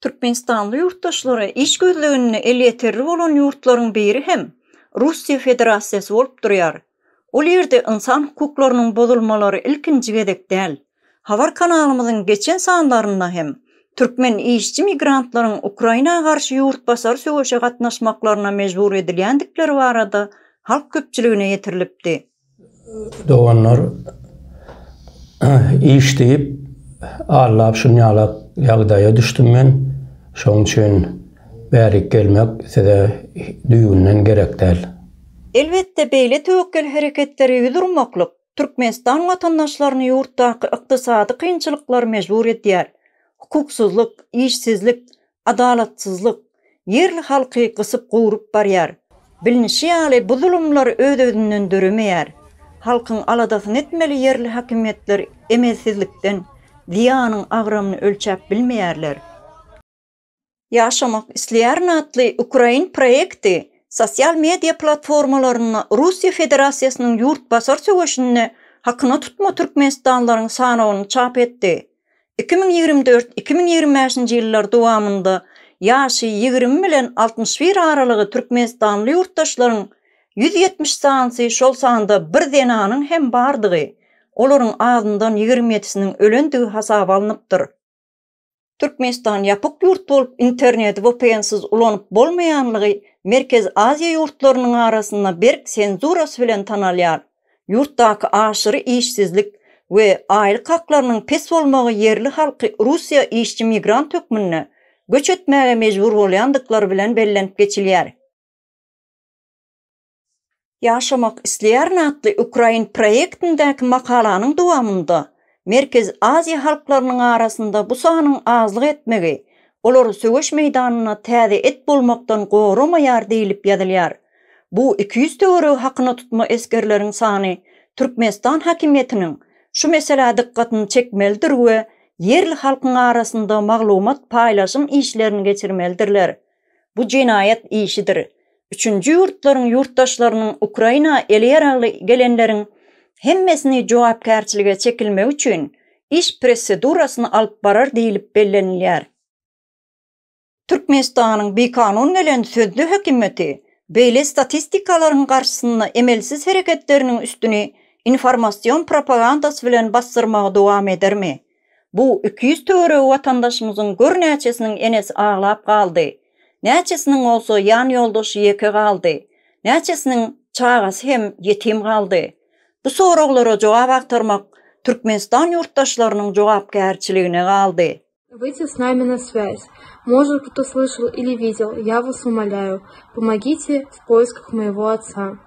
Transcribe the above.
Türkmenistanly ýurtdaşlara iş gözleginde elýeterli bolan ýurtlaryň biri hem Russiýa Federasiýasy bolup durýar. Ol ýerde ynsan hukuklarynyň bozulmalary ilkinji gezek däl. Habar kanalymyzyň geçen sanlarynda hem türkmen işçi migrantlaryň Ukraina garşy ýurtbasar söweşe gatnaşmaklaryna mejbur edilýändikleri barada halk köpçüligine ýetirilipdi. Doganlar iş diýip allap şunýalak ýagdaýa düşdüm men. Şoň üçin bärik gelmek size düýbünden gerek däl. Elbetde, beýle töwekgel hereketlere ýüz urmaklyk Türkmenistan watandaşlaryny ýurtdaky ykdysady kynçylyklar mejbur edýär. Hukuksyzlyk, işsizlik, adalatsyzlyk, ýerli halky gysyp-gowrup barýar. Bilnişi ýaly, bu zulumlar öz-özünden döremeýär. Halkyň aladasyny etmeli ýerli hakimiýetler emelsizlikden zyýanyň agramyny ölçäp bilmeýärler. Ýaşamak isleýärin atly ukrain proýekti sosial media platformalarynda Russiýa Federasiýasynyň ýurtbasar söweşinde hakyna tutma türkmenistanlylaryň sanawyny çap etdi. Iki müň ýigrimi dört, iki müň ýigrimi bäşinji ýyllar dowamynda ýaşy ýigrimi bilen altmyş bir aralygy türkmenistanly ýurtdaşlaryň ýüz ýetmiş sanysy, şol sanda bir zenanyň hem bardygy, olaryň azyndan ýigrimi ýedisiniň ölendigi hasaba alnypdyr. Türkmenistan ýapyk ýurt bolup, interneti VPN-siz ulanyp bolmaýanlygy Merkezi Aziýa ýurtlarynyň arasynda berk senzurasy bilen tanalýar. Ýurtdaky aşyry işsizlik we aýlyk haklarynyň pes bolmagy ýerli halky Russiýa işçi-migrant hökmünde göç etmäge mejbur bolýandyklary bilen bellenip geçilýär. Ýaşamak isleýärin atly ukrain proýektindäki makalanyň dowamynda Merkezi Aziýa halklarynyň arasynda bu sanyň azlyk etmegi olary söweş meýdanynda täze et bolmakdan goramaýar diýlip ýazylýar. Bu iki ýüz töweregi hakyna tutma esgerleriň sany Türkmenistan hakimiýetiniň şu meselä dykgatyny çekmelidir we ýerli halkyň arasynda maglumat paýlaşym işlerini geçirmelidirler. Bu jenaýat işidir. Üçünji ýurtlaryň ýurtdaşlarynyň Ukraina ele ýaragly gelenleriň hemmesini jogapkärçilige çekilmegi üçin iş prosedurasyny alyp barar diýlip bellenilýär. Türkmenistanyň bikanun gelen sözde hökümeti beýle statistikalaryň garşysynda emelsiz hereketleriniň üstüni informasion propagandasy bilen basdyrmagy dowam edermi? Bu iki ýüz töweregi watandaşymyzyň gör näçesiniň enesi aglap galdy, näçesiniň bolsa ýan ýoldaşy ýeke galdy, näçesiniň çagasy hem ýetim galdy. Bu soraglara jogap agtarmak Türkmenistan ýurtdaşlarynyň jogapkärçiligine galdy. Wyýdze s nami na swýaz, možet bute slyşal ili widel, ýa was umaляю, pomogite w poiskah moýego otsa.